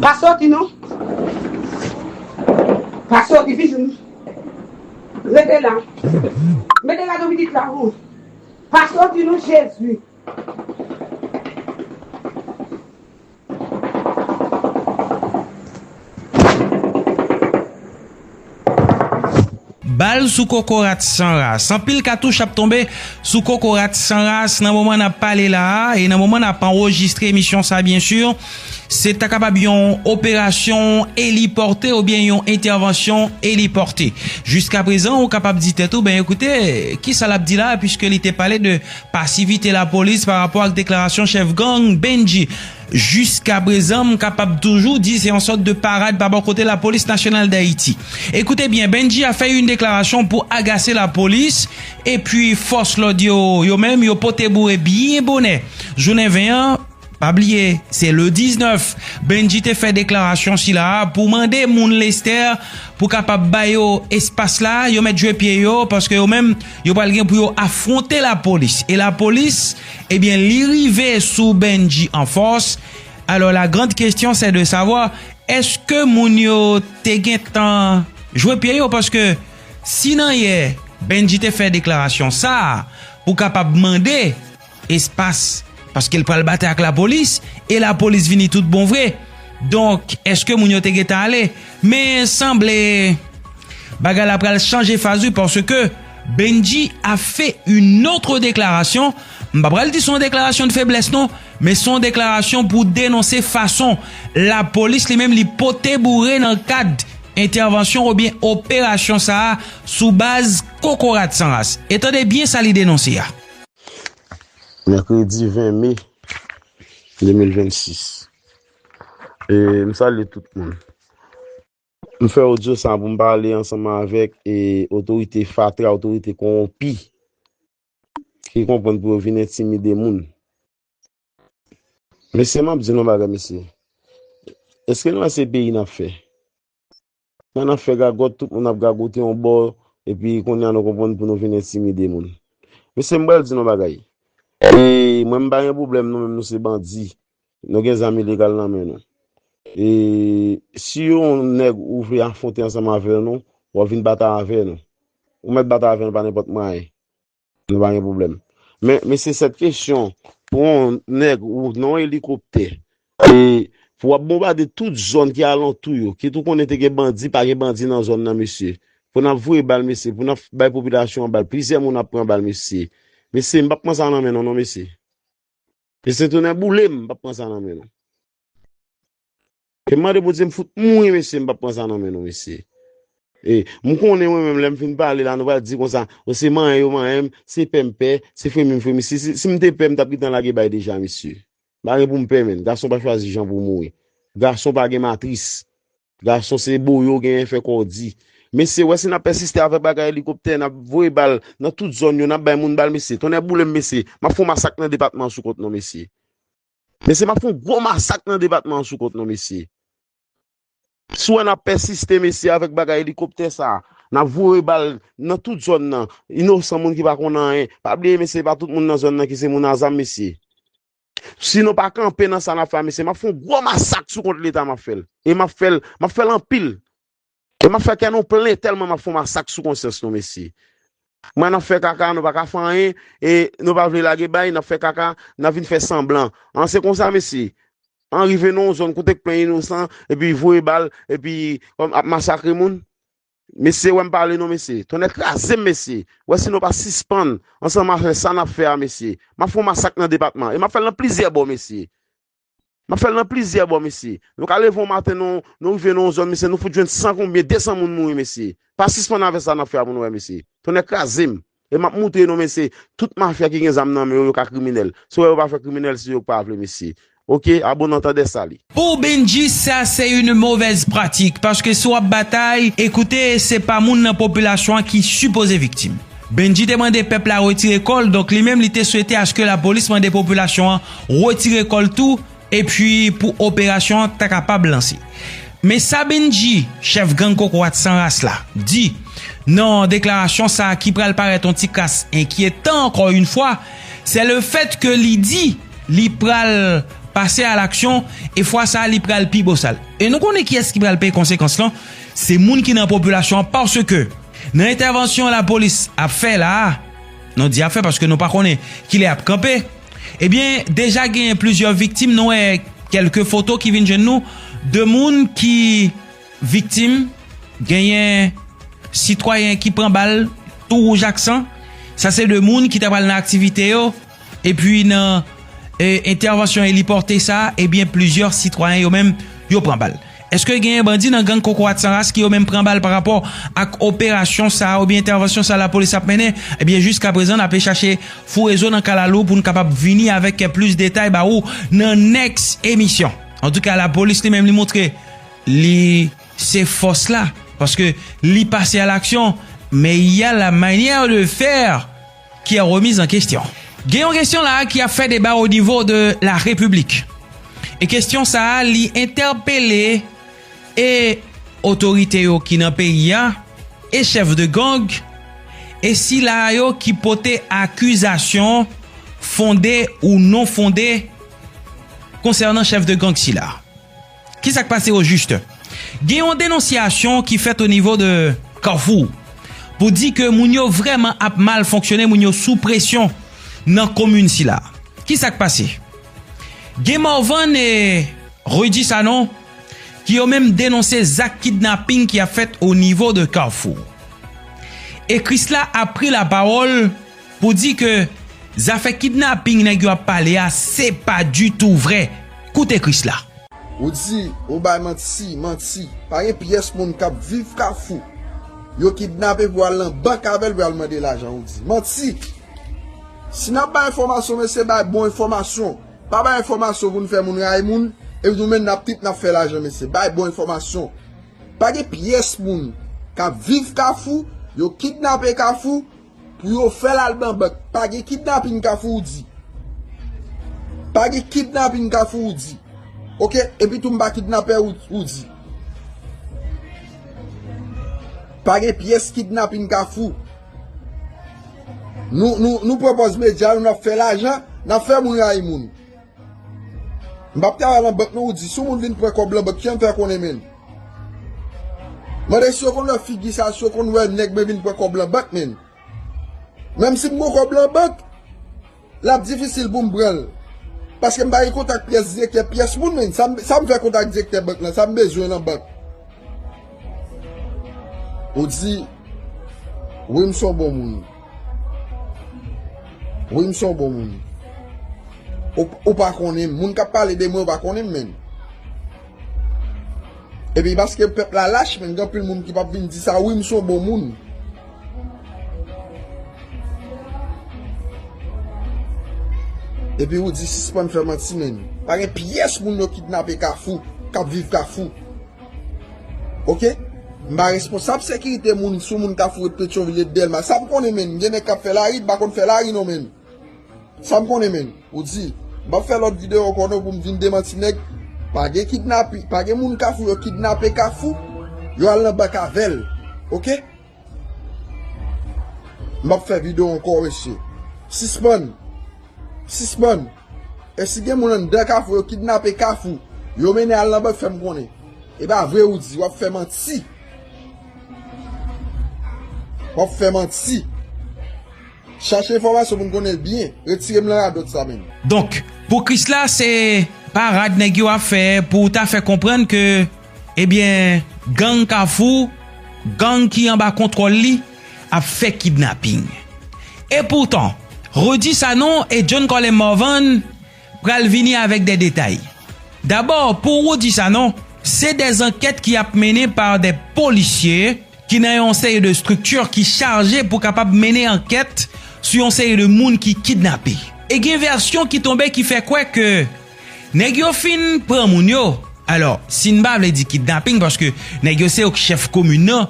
Pa soti non. Pa soti pitit. Rete la. Mete la nan pitit la ou. Pa soti non Jezi. Bal sou kokorat san ras. Anpil katouch ap tonbe sou kokorat san ras nan moman nap pale la a e nan moman nap anrejistre emisyon sa byen sur. Se ta kapab yon operasyon elipòte ou byen yon entèvansyon elipòte. Jiska prezan ou kapab di tèt ou, ben ekoute, kisa lap di la a pwiske li te pale de Pasivite lapolis pa rapò ak deklarasyon chèf gang Bendji jiskaprezan m kapab toujou di se yon sòt de parad pa bò kote lapolis nasyonal Dayiti. E koute byen Bendji a fè yn deklarasyon pou agase lapolis epi fòs lòd yo yo menm yo pote boure byen bonè jounen 20 an Pa bliye, se le 19, Bendji te fè deklarasyon sila a pou mande moun Lestè pou kapab ba yo espas la, yo mèt jwe pye yo, paske yo menm, yo pral gen pou yo afwonte lapolis. E lapolis, ebyen eh li rive sou Bendji an fòs, alò la grand kestyon sè de savwa, èske moun yo te gen tan jwe pye yo, paske si nan yè Bendji te fè deklarasyon sa a pou kapab mande, espas paske l pral batay ak lapolis e lapolis vini tout bon vre donk eske moun yo te gentan ale men sanble bagay la pral chanje faz wi paske Bendji a fè yon otre deklarasyon m pa pral di son deklarasyon de feblès non men son deklarasyon pou denonse fason lapolis li menm li pote boure nan kad entèvansyon ou byen operasyon sa a sou baz kokorat san ras e tande byen sa li denonse a. Mèkredi 20 me 2026 E m salye tout moun M fè odyo sa pou m pale ansanman avèk e otorite fatra, otorite konwonpi ki konprann pou yo vin entimide moun Mesye m ap di nou yon bagay mesye Eske nou wè se peyi n ap fè? Lè nap fè gagòt tout moun ap gagote yon bò epi kounya nou konprann pou nou vin entimide moun. Mesye m pral di nou yon bagay e mwen m pa gen pwoblèm nou menm nou se bandi nou gen zam ilegal nan men nou e si yon nèg ou vle afwonte ansanm avè nou wap vin batay avè nou ou mèt batay avè nou pa nenpòt mwayen Nou pa gen pwoblèm. Men, mesye sèt kesyon pou yon nèg ou nan yon elikoptè e pou wap bonbade tout zòn ki alantou yo, kit ou konnen te gen bandi, pa gen bandi nan zòn nan mesye. Pou nap voye bal mesye, pou nap bay popilasyon an bal, plizyè moun ap pran bal mesye. Mesye, m pap pran sa nan men nou non mesye. Mesye tounen boule m, m pap pran sa nan men nou. Te mande Bondye m fout mouri mesye m pap pran sa nan men nou mesye. E, m konnen mwen menm lè m fin pale la nou pral di konsa o se manyen yo manyen m, se pè m pè, se fremi m fremi si si m te pè m tap gentan lage bay deja mesye. M pa gen pou m pè menn, gason pa chwazi jan pou mouri. Gason pa gen matris. Gason se boyo genyen fè kò w di. Mesye wè si nap pèsiste avè bagay elikoptè nap voye bal nan tout zòn yo nap bay moun bal mesye tonnè boule m mesye map fon masak nan depatman sou kont nou mesye. Mesye map fon gwo masak nan depatman sou kont nou mesye. Si wè nap pèsiste mesye avèk bagay elikoptè sa, nap voye bal nan tout zòn nan, inosan moun ki pa konn anyen, pa bliye mesye pa tout moun nan zòn nan ki se moun azam mesye. Si nou pa kanpe nan sa nap fè a mesye map fon gwo masak sou kont leta map fèl. E map fèl, map fèl anpil. E map fè kè nou plen tèlman map fon masak sou konsyans nou mesye. Mwen nap fè kaka nou paka fè anyen e nou pa vle lage bay nap fè kaka nap vin fè sanblan an se konsa mesye. An rive nou yon zòn kote k plen inosan epi voye bal epi kòm ap masakre moun. Mesye wèm pale non mesye. Tonnè krazem mesye. Wè si nou pa sispann ansanm avè sa nap fè a mesye. Map fon masak nan depatman e map fèl nan plizyè bò mesye. N ap fè l nan plizyè bò, mesye. Nou ka leve yon maten, nou rive nan yon zòn, mesye, nou fout jwenn san konbyen, desan moun mouri, mesye. Pa sispann avè sa n ap fè a pou nou wè, mesye. Tonnè kraze m! E m ap moutre nou, mesye, tout mafya ki gen zam nan men yo, yo ka kriminèl. Se wè yo pa fè kriminèl si yo pa vle, mesye. Oke, a bon antandè, sali. Pou Bendjy sa se yn movèz pratik paske si wap batay e koute se pa moun nan popilasyon an ki sipoze viktim. Bendji te mande pèp la retire kò l donk li menm li te swete aske lapolis mande popilasyon an retire kò l tou epi pou operasyon an ta kapab lanse. Men sa Bendji, chèf gang kokorat san ras la, di nan deklarasyon sa ki pral parèt yon ti kras enkyetan ankò yon fwa, se le fèt ke li di li pral pase a laksyon e fwa sa li pral pi bosal. E nou konnen kiyès ki pral peye konsekans lan, se moun ki nan popilasyon an paske. Nan entèvansyon lapolis ap fè la a, nou di ap fè paske nou pa konnen kilè yap kanpe, ebyen deja genyen plizyè viktim nou wè kelke foto ki vin jwenn nou de moun ki viktim genyen sitwayen ki pran bal tou wouj ak san sa se de moun ki ta pral nan aktivite yo. Epi nan entèvansyon eliporte sa a, ebyen plizyè sitwayen yo menm yo pran bal. Eske genyen bandi nan gang Kokorat San Ras ki yo menm pran bal parapò ak operasyon sa a oubyen entèvansyon sa a lapolis ap mennen? Ebyen jiska prezan n ape chache foure zo nan kalalou pou n kapab vini avèk plis detay ba ou nan nèks emisyon. Antouka lapolis li menm li montre li se fòs la paske li pase alaksyon, men y a la manyè de fè! ki an remiz an kestyon. Gen yon kestyon la a ki ap fè deba o nivo de la repiblik. E kestyon sa a li entèpele e otorite yo ki nan peyi a, e chèf de gang, e sila a yo ki pote akizasyon fonde ou non fonde konsènan chèf de gang sila. Ki sa k pase ojiste? Gen yon denonsyasyon ki fèt o nivo de Kafou pou di ke moun yo vrèman ap mal fonksyone, moun yo sou presyon nan komin sila. Ki sa k pase? Gen Morvan e Rudy Sanon ki yo menm denonse zak kidnaping ki ap fèt o nivo de Kafou. E Krisla ap pri lapawòl. Pou di ke zafè kidnaping nèg yo ap pale a se pa ditou vrè. Koute Krisla. Ou di, ou bay manti, manti. Pa gen pyès moun k ap viv Kafou yo kidnape pou al nan bank avè l pou y al mande lajan. Ou di. Manti! Si n ap bay enfòmasyon, mesye bay bon enfòmasyon. Pa bay enfòmasyon pou n fè moun rayi moun, epi nou menm n ap trip n ap fè lajan mesye. Bay bon enfòmasyon. Pa gen pyès moun k ap viv Kafou yo kidnape Kafou Pou yo fèl al nan bank. Pa gen kidnaping kafou ou di. Pa gen kidnaping kafou ou di. Ok epi tou m pa kidnapè ou di. Pa gen pyès kidnaping kafou. Nou pwopòz medya nou nan fè lajan nan fè moun rayi moun. M pap travay lan bank non ou di si yon moun vin pran kob lan bank kijan m fè konnen menn? Mande si yo konn wè figi sa si yo konn wè nèg mwen vin pran kob lan bank menn? Menm si m gon kob lan bank lap difisil poum pranl paske m pa gen kontak pyès direktè pyès moun menn sa m fè kontak direktè bank lan sa m bezwen lan bank? Ou di wi m son bon moun. Wi m son bon moun. Ou pa konnen m. Moun k ap pale de mwen ou pa konnen m menm. E pi paske pèp la lach menm gen anpil moun ki pa vin di sa wi m son bon moun. E pi ou di sispann fè manti menm. Pa gen pyès moun yo kidnape kafou k ap viv kafou. Ok M pa responsab sekirite moun sou moun kafou et petyonvil et delma sa m konnen menn gen nèg kap fè lari m pa konn fè lari non menn sa m konnen menn ou di m pap fè lòt video ankò non pou m vin demanti nèg pa gen kidnapi pa gen moun kafou yo kidnape kafou yo al nan bank avèl ok. Map fè video ankò mesye. Sispann. Sispann. E si gen moun anndan kafou yo kidnape kafou. Yo mennen al nan bank fèm konnen. E pa vre ou di. Wap fè manti. Wap fè manti. Chache enfomasyon pou n konnen byen. Retirem nan radot sa menm. Donk pou krisla se parad neg yo ap fè pou ta fè konprann ke. Ebyen gang kafou, gang ki anba kontwòl li ap fè kidnaping. Epoutan, Rudy Sanon e John Colem Morvan pral vini avèk de detay. Dabò pou Rudy Sanon, se de zankèt ki ap mennen pa de polisye ki nan yon seri de estrikti ki chaje pou kapab mennen ankèt sou yon seri de moun ki kidnape. E gen vèsyon ki tonbe ki fè kwè ke. Nèg yo fin pran moun yo, alò si n pa vle di kidnaping paske nèg yo se yo k chèf komin nan,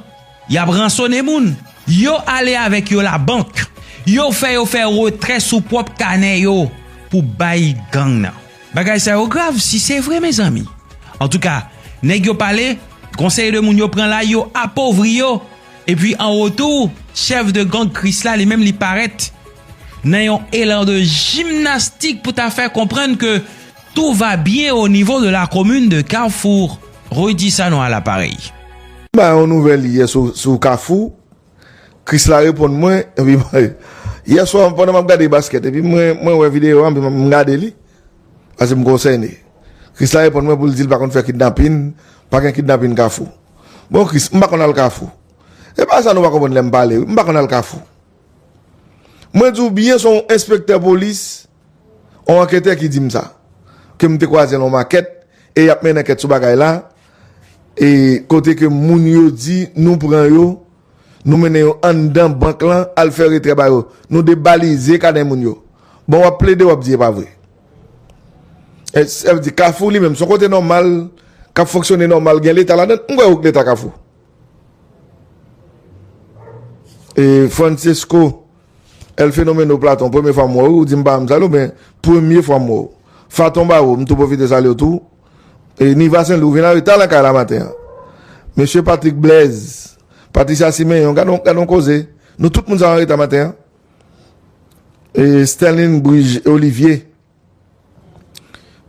y ap ransone moun, yo ale avèk yo labank, yo fè yo fè retrè sou pwòp kanè yo pou bay gang nan. Bagay sa yo grav si se vre mezanmi. Antouka, nèg yo pale, konsèy de moun yo pran la yo apovri yo, epi an retou chèf de gang Krisla li menm li parèt. nan yon elan de jimnastik pou ta fè konprann ke tou va byen o nivo de la komin de Carrefour, Rudy Sanon a l'aparey. M bay yon nouvèl yè sou Kafou, Krisla reponn mwen, epi mwen, yè swa pandan map gade baskèt, epi mwen wè videyo a, m gade li, paske m konsène. Krisla reponn mwen pou l di l pa konn fè kidnapin, pa gen kidnapin Kafou. Bon Kris, m pa konn al Kafou. E pa sa nou pa konprann lè m pale wi, m pa konn al Kafou. Mwen di w byen son w enspektè polis, on anketè ki di m sa. Ke m te kwaze l on makèt, e y ap mennen ankèt sou bagay la, e kote ke moun yo di nou pran yo, nou mennen yo anndan bank lan al fè retrè ba yo. Nou debalize kanè moun yo. Bon w ap plede w ap di e pa vre. Sa vle di kafou li menm son kote nòmal, k ap fonksyone nòmal gen leta ladan l? M kwè w gen leta kafou. E Francesco El Fenomeno Platon premye fwa m wè w ou di m pa janm sal w men premye fwa m wè w Faton Baro m tou pwofite salye w tou e Niva Senlou ou vin anreta nan kay la maten an Mesye Patrick Blaise Patricia Siméon gadon gadon koze nou tout moun sa anreta maten an e Sterline Brigier Olivier.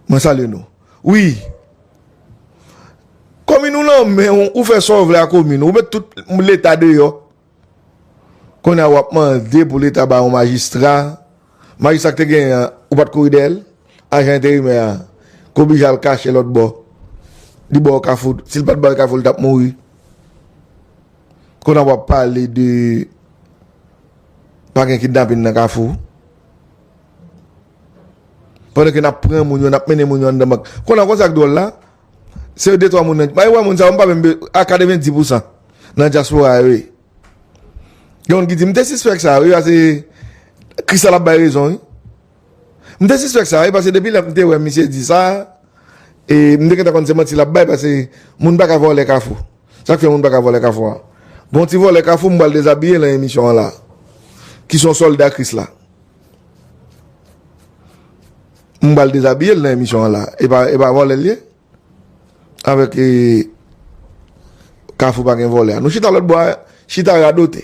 Mwen salye nou wi Komin ou lan men ou ou fè sa ou vle a komin ou ou met tout leta deyò Kounye a wap mande pou leta ba yon majistra Majistra ki te genyen an ou pat kouri dèyèl Ajan enterimè a ki oblije al kache lòtbò Li ba w kafou si l pat ba w kafou li tap mouri Kounye a wap pale de Pa gen kidnapin nan kafou Pandan ke nap pran moun yo, nap mennen moun yo anndan bank. Konn an kon sak dwòl la, se yo de twa moun nan, bay wè moun sa yo, mpa menm be, a 90 pou san nan dyaspora yo ye. Gen moun ki di, mte sispèk sa wi, pase Kristal ap bay rezon wi. Mte sispèk sa wi, pase depi lè mte wè misye di sa, e mte gentan konn se manti lap bay, pase moun paka vòlè kafou. Sak fè moun paka vòlè kafou a? Gon ti vòlè kafou mpral dezabiye lan emisyon an la, ki son sòlda Kris la. M pral dezabiye l nan emisyon an la. E pa vòlè l ye? Avèk e kafou pa gen vòlè a. Nou chita lòt bò a, chita radote.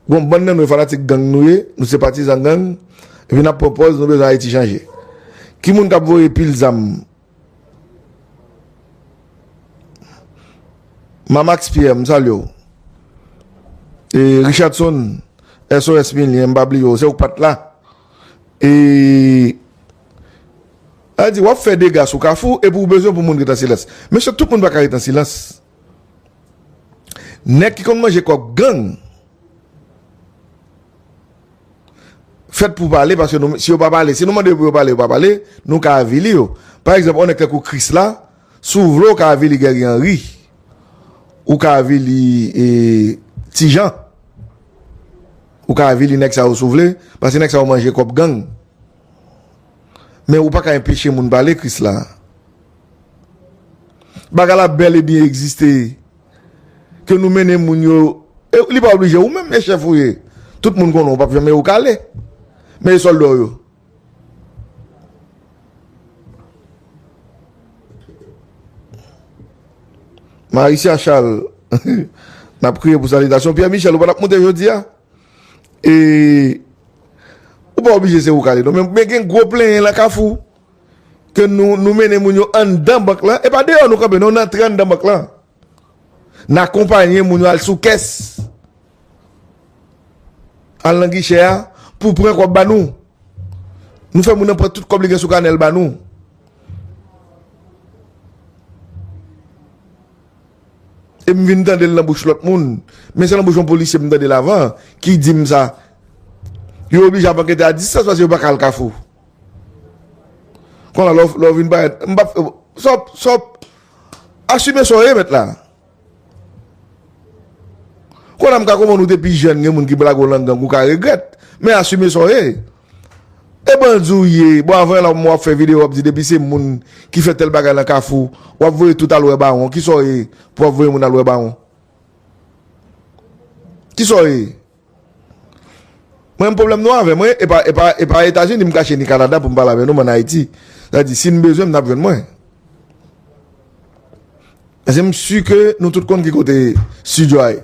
Gon bann nan nou e fanatik gang nou ye, nou se patizan gang, epi n ap pran pòz nou bezwen Ayiti chanje. Ki moun k ap voye pil zam? Mamax Pierre m salye w e Richardson SOS Milien m pa bliye w se w k pat la e a di wap fè dega sou kafou epi w bezwen pou moun ret an silans mesye tout moun pa ka ret an silans nèg ki konn manje kòb gang. fèt pou pale paske nou si yo pa pale si nou mande yo pou yo pale yo pa pale nou ka avili yo pa egzanp yon nèg tankou krisla si w vle w ka avili gèri anri ou ka avili e ti jan ou ka avili nèg sa yo si w vle paske nèg sa yo manje kòb gang men ou pa ka enpeche moun pale krisla Bagay la bel e byen egziste ke nou mennen moun yo e li pa oblije ou menm e chèf ou ye tout moun konnen ou pap janm e ou ka ale men e sòlda w yo. Maricia Charles n ap kriye pou sanitasyon Pierre Michel ou pa t ap moute jodi a e ou pa oblije se ou k ale non men gen gwo plenyen lan kafou. ke nou nou mennen moun yo anndan bank lan, e pa deyò nou kanpe non, n antre anndan bank lan, n akonpanye moun yo al sou kès, al nan gichè a pou pran kòb ba nou. Nou fè moun nan pran tout kòb li gen sou kanè l ba nou. E m vin tande l nan bouch lòt moun, men se nan bouch yon polisye m tande l avan ki di m sa. Yo oblije ap ankete a distans paske yo pa ka al Kafou. Kona lè w vin parèt, m pap, sa w, sa w, asime sa w ye mèt la. Kona m ka konprann ou te pi jèn gen moun ki blague w lan gang ou ka regrèt, men asime sa w ye. E bandi w ye, bon avan la w ap fè video w ap di depi se moun ki fè tèl bagay lan kafou, w ap voye tout al wè bawon, kisa w ye pou w ap voye moun al wè bawon? Kisa w ye? Mwen menm pwoblèm nou avè mwen e pa Etazini m kache ni Kanada pou m pale avè nou m an Ayiti. Sa di si n bezwen m n ap jwenn mwen. Paske m si ke nou tout konn ki kote studio a ye.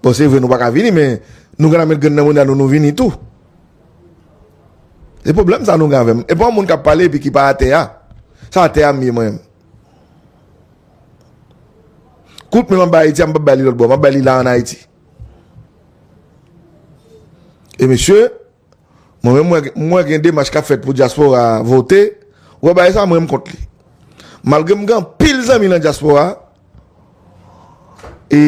Bon se vre nou pa ka vini men nou gentan met grenn nan mounn nou nou vini tou. Se pwoblèm sa nou gen avè m. E pa yon moun k ap pale epi ki pa atè a. Sa atè a m ye mwen menm. Kout menm anba Ayiti a m pap bay li lòt bò. M ap bay li la an Ayiti. E mesye, mwen menm mwen m wè gen demach k ap fèt pou dyaspora a vote, ou wè bagay sa a mwen m kont li. Malgre m gen anpil zanmi nan dyaspora a, e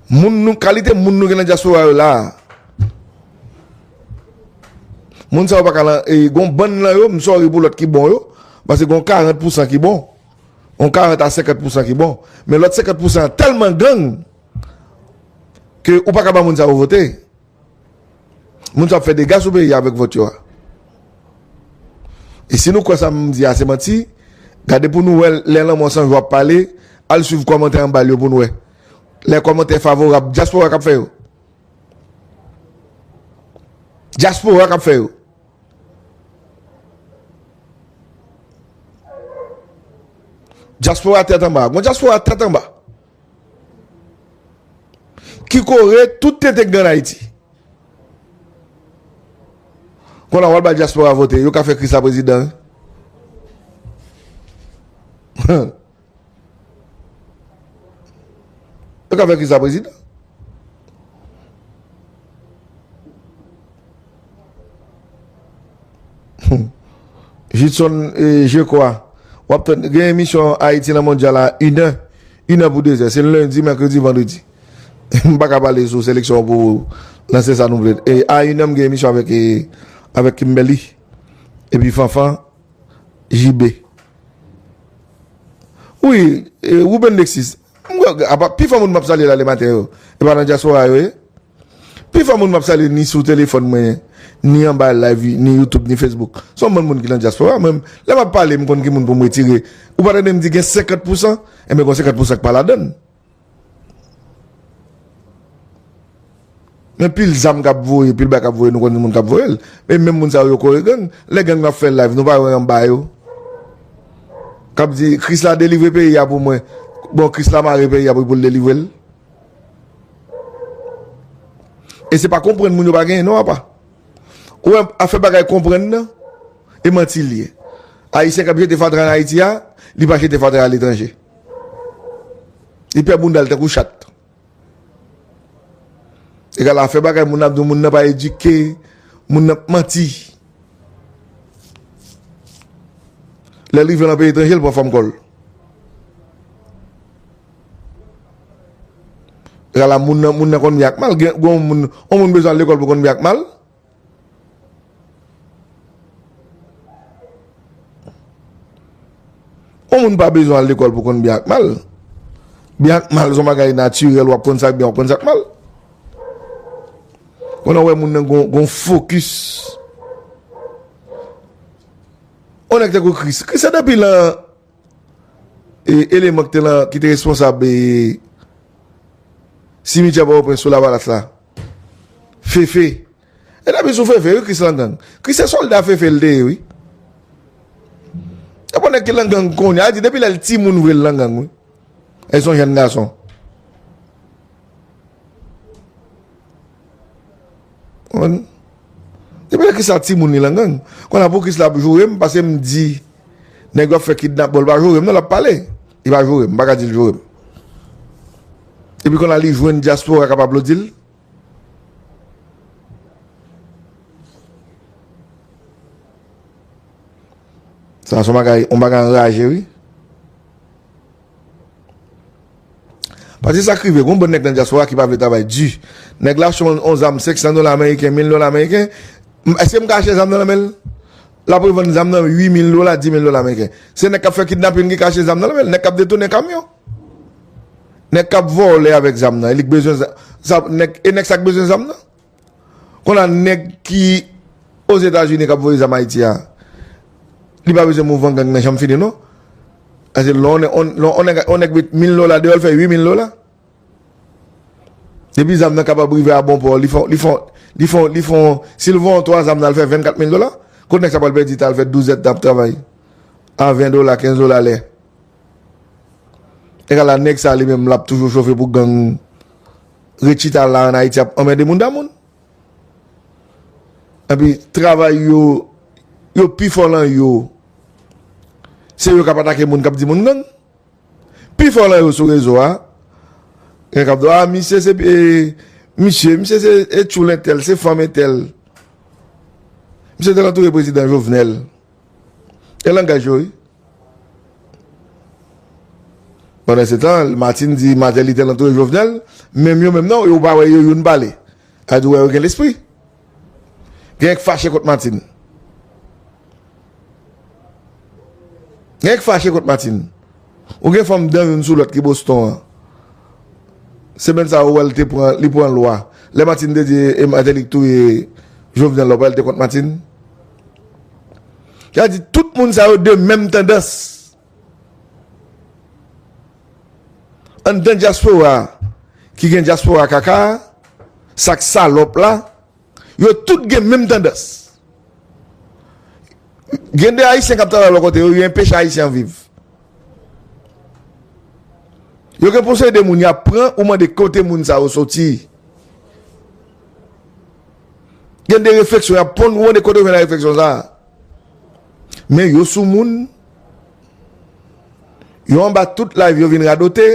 moun nou kalite moun nou gen nan dyaspora a yo la a, moun sa yo pa ka lan, e gen yon bann nan yo, m sòri pou lòt ki bon yo, pase gen yon 40 pousan ki bon. yon 40 a 50 pousan ki bon men lòt 50 pousan an tèlman gang ke ou pa ka ba moun sa yo vote moun sa yo ap fè dega sou peyi a avèk vòt yo a e si nou kwè sa m di a se manti gade pou nou wè lè lanmò san jou ap pale al swiv kòmantè anba l yo pou nou wè lè kòmantè favorab dyaspora k ap fè yo dyaspora k ap fè yo Dyaspora tèt anba. Gon dyaspora tèt anba. Ki kore tout tenten ki gen an Ayiti. Kon la wal bay dyaspora vote. Yo ka fè Kris la prezidan. Huh. Yo ka fè Chris la prezidan. Judson e je kwa. Wap tann gen emisyon Haiti nan mondyal la 1 è, 1 è pou 2 è. Se lundi, mercredi, vendredi. M pa ka pale sou seleksyon an pou lanse sa nou vle. E a 1 è m gen emisyon avèk Kimberly epi Fanfan. JB. Wi, Ruben Lexis. Pi fò moun m ap salye la le maten yo, e pa nan dyaspora yo ye? Pi fò moun m ap salye ni sou telefòn mwen, ni anba live, ni YouTube, ni Facebook, se yon bann moun ki nan dyaspora. Mwen menm, lè m ap pale, m konn ki moun pou m retire. Ou pa tande m di gen senkant pousan? Enben, gen senkant pousan ki pa ladan l. Men pil zam kap voye, pil bagay kap voye nou konnen moun kap voyel. E menm moun sa yo kore gang. Lè gang nan fè live nou pa wè anba yo. Kap di kris la delivre peyi a pou mwen. Bon kris la mare peyi a pou l delivre l. E se pa konprann moun yo pa genyen non apa. Ou wè a fè bagay konprann nan e manti li ye. Ayisyen kap jete fatra an Ayiti a, li pa jete fatra a letranje. Li pè bounda l tankou chat. E ga la fè bagay moun ap di moun nan pa edike, moun nan ap manti. Lè l rive nan peyi etranje l pran fòm kò l. E ga la moun nan konn byen ak mal. Gon moun, on moun bezwen al lekòl pou konn byen ak mal. Yon moun pa bezwen al lekòl pou konn byen ak mal. Byen ak mal son bagay natirèl, wap konn sak byen, wap konn sak mal. Konn wè moun nan gon fokis. Yon nèk te kou kris. Kris se depi lan e eleman ki te responsab e simityè pa wopren sou lavalas la. Fefe E depi sou fefe wi kris lan gang Kris se solda fefe li te ye wi Epa nèg ki lan gang kounye a depi lèl ti moun vre li lan gang wi E son jèn gason Depi lè kris la ti moun li lan gang Konnya pou kris la ap joure m pase m di Nèg yo ap fè kidnap bon li pa joure m non lap pale. Li pa joure m, m pa ka di l joure m. Epi konn la li jwenn dyaspora k ap aplodi l. Sa son bagay, on bagay anraje wi. Pase sa k rive, gon bon nèg nan dyaspora ki pa vle travay di. Nèg la achte on zam 500 dola ameriken, 1000 dola ameriken, èske m ka achte zam nan nan men l? Lap revann zam nan 8 mil dola, 10 mil dola meriken. Se nèg kap fè kidnapin ki kache zam nan nan menl, nèg kap detounen kamyon. Nèg kap vòlè avèk zam nan e lik bezwen zam nan, e nèg sa k bezwen zam nan. Konn a nèg ki ozetazini kap voye zam ayiti a, li pa bezwen mouvman gang nan janm fini non. Paske lè on nèg met mil dola deyòl fè 8 mil dola. Depi zam nan kapab rive a bon pò, li fon, li fon, li fon, li fon, si l von 3 zam nan al fè 24 mil dola, kot nèg sa pral pèdi tan al fè 12 zèdtan ap travay a 20 dola, 15 dola lè? Egal a nèg sa li menm l ap toujou chofe pou gang ret chita la an Ayiti ap anmède moun da moun. Epi travay yo, yo pi fò lan yo, se yo k ap atake moun k ap di moun gang. Pi fò lan yo sou rezo a. Gen kap di w a misye se misye, misye se e tchoul entèl, se fanm entèl. Misye te antoure prezidan Jovenel. E langaj yo wi. Pandan se tan, Martine di Martelly te antoure Jovenel, menm yo menm nan, ou pa wè yo youn pale. Sa di w wè yo gen lespri. Genyen k fache kont Martine. Genyen k fache kont Martine. Ou gen fanm dan youn sou lòt ki Boston an. Semèn sa ou wè l te pran, li pran lwa. Lè Martine te di e Martelly k touye Jovenel la ou pa wè l te kont Martine? Sa vle di tout moun sa yo de menm tandans. Anndan dyaspora a ki gen dyaspora kaka a, sa k salòp la, yo tout gen menm tandans. Gen de Ayisyen k ap travay lò kote yo, yo enpeche Ayisyen an viv. Yo gen posede moun y ap pran, ou mande kote moun sa yo soti. Gen de refleksyon y ap ponn, ou mande kote yo jwenn refleksyon sa a. Men yo sou moun. Yo anba tout live yo vin radote,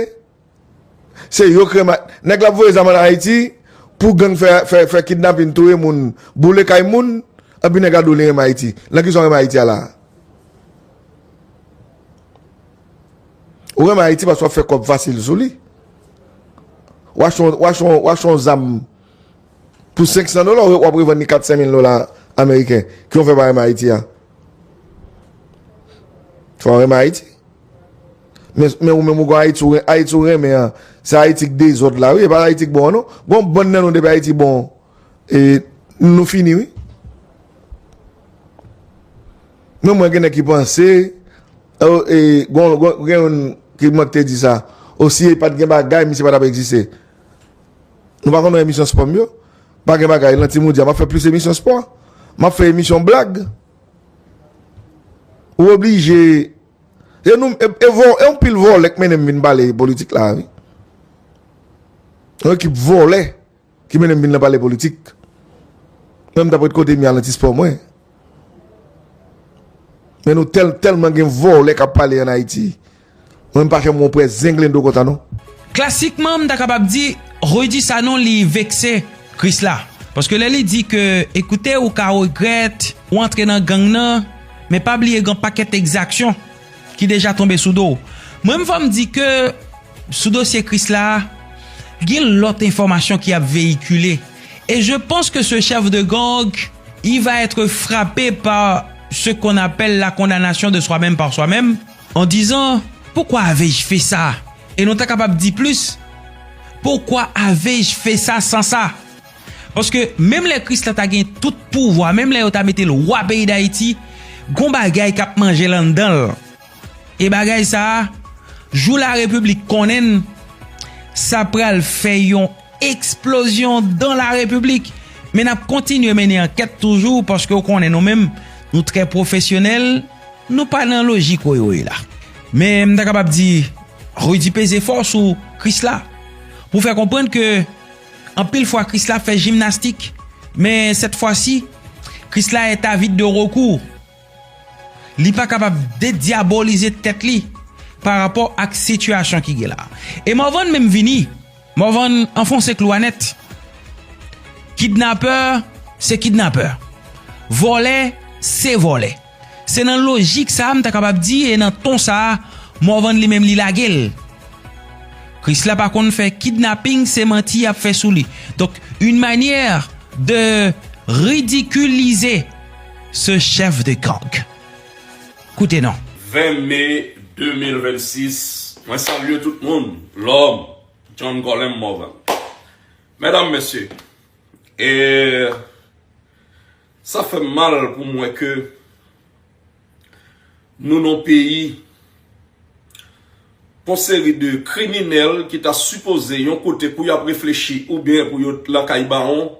se yo krèm a, nèg la ap voye zam an Ayiti pou gang fè kidnapin touye moun, boule kay moun, epi nèg la di w li renmen Ayiti. Nan kisa w renmen Ayiti a la a? Ou renmen Ayiti paske w ap fè kòb fasil sou li. Ou achte yon zam pou 500 dola, ou ap revann li 4-5 mil dola ameriken. Ki w fè pa renmen Ayiti a? Fò renmen Ayiti. Men ou menm ou kon Ayiti, Ayiti ou renmen an, se Ayiti k dezòd la wi, e pa Ayiti k bon an non. Gon bann nan nou depi Ayiti bon, e nou fini wi. Men mwen gen nèg ki panse, e gon gen yon ki mwen k te di sa, o si e pat gen bagay misye pa t ap egziste. Nou pa konn wè emisyon spò m yo? Pa gen bagay lan Timoun di a m ap fè plis emisyon spò, m ap fè emisyon blag. Ou oblije e nou e vò e yon pil vòlè k mennen m vin pale politik la a wi. Yon ekip vòlè ki mennen m vin la pale politik. Mwen m t ap ret kote m ye al nan ti spò mwen. Men nou tèl tèlman gen vòlè k ap pale an Ayiti Mwen m pa fè mon prè zenglendo kontan non. Klasikman m ta kapab di Rudy Sanon li vekse Krisla paske lè li di ke ekoute ou ka regrèt ou antre nan gang nan men pa bliye gen yon pakèt ekzaksyon ki deja tonbe sou do w mwen m fò m di ke sou dosye Krisla a gen lòt enfòmasyon ki ap veyikile e je panse ke se chèf de gang il va etre frape par ce qu'on appelle la condamnation de soi-même par soi-même. En disant, Pourquoi avais-je fait ça? E nou ta kapab di plis, Pourquoi avais-je fait ça sans ça? Paske menm lè Kris la ta gen tout pouvwa, menm lè yo ta mete l wa peyi Dayiti, gon bagay k ap manje l anndan l. E bagay sa a, jou larepiblik konnen l, sa pral fè yon eksplozyon dan larepiblik. Men n ap kontinye mennen ankèt toujou paske ou konnen nou menm nou trè pwofesyonèl. Nou pa nan lojik woywoy la. Men m ta kapab di Rudy peze fò sou Krisla pou fè konprann ke anpil fwa Krisla ap fè jimnastik men sèt fwa si Krisla est avide de recours. Li pa kapab dedyabolize tèt li pa rapò ak sitiyasyon ki gen la. E Morvan menm vini. Morvan anfonse klou a nèt. Kidnapè se kidnapè. Vòlè se vòlè. Se nan lojik sa a m ta kapab di e nan ton sa a Morvan li menm li lage l. Krisla pa konn fè kidnaping se manti y ap fè sou li. Donk yn manyè de ridikilize se chèf de gang. Koute non. 20 me 2026 mwen salye tout moun lòm John Colem Morvan mèdam mesye e sa fèm mal pou m wè ke nou nan yon peyi pou yon seri de kriminèl ki ta sipoze yon kote pou yap reflechi oubyen pou yo lakay bawon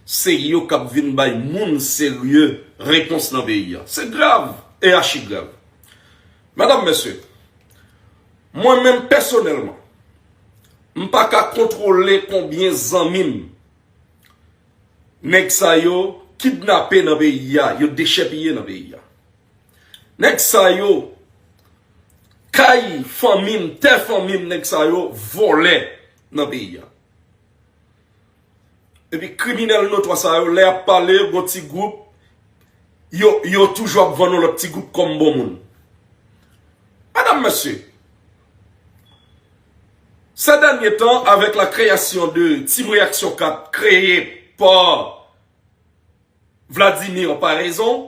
Se yo kap vin bay moun serye repons nan peyi a. Se grav e achi grav. Medam, mesye, mwen menm pèsonèlman, m pa ka kontwole konbyen zanmi m nèg sa yo kidnape nan peyi a, yo dechèpiye nan peyi a. Nèg sa yo, kay fanmi m, tè fanmi m, nèg sa yo vòlè nan peyi a. Epi kriminèl notwa sa yo lè y ap pale yon ti gwoup yo toujou ap vann yon lòt ti gwoup kòm bon moun. Medam mesye, sè dènye tan avèk la kreyasyon de Team Reyaksyon 4 kreye pa Vladimir Paraison,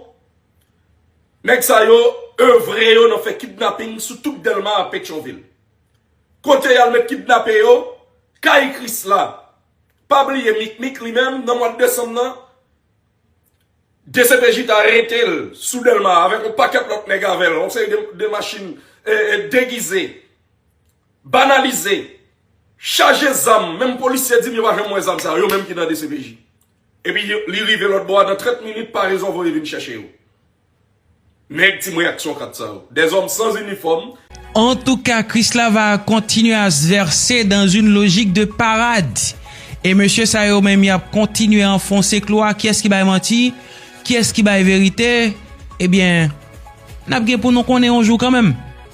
nèg sa yo evre yo nan fè kidnaping sou tout Dèlma a Petyonvil. Kote yal met kidnape yo? Kay krisla. Pa bliye mikmik li menm nan mwad desanm nan dcpj ta aretel sou delma avek yon paket lot neg avel yon seri de machin degize banalize chaje zam menm polisye dim yo pa janm we zam sa yo menm ki nan dcpj epi li rive lotbo a nan 30 minit paraison voye vin chache yo. Neg team reaksyon 4 sa yo. Des hommes sans uniforme. Antouka Krisla va continuer à se verser dans une logique de parade et mesye sa yo menm yap kontinye anfonse klou a kiyès ki bay manti kiyès ki bay verite ebyen nap gen pou nou konnen yon jou kanmenm.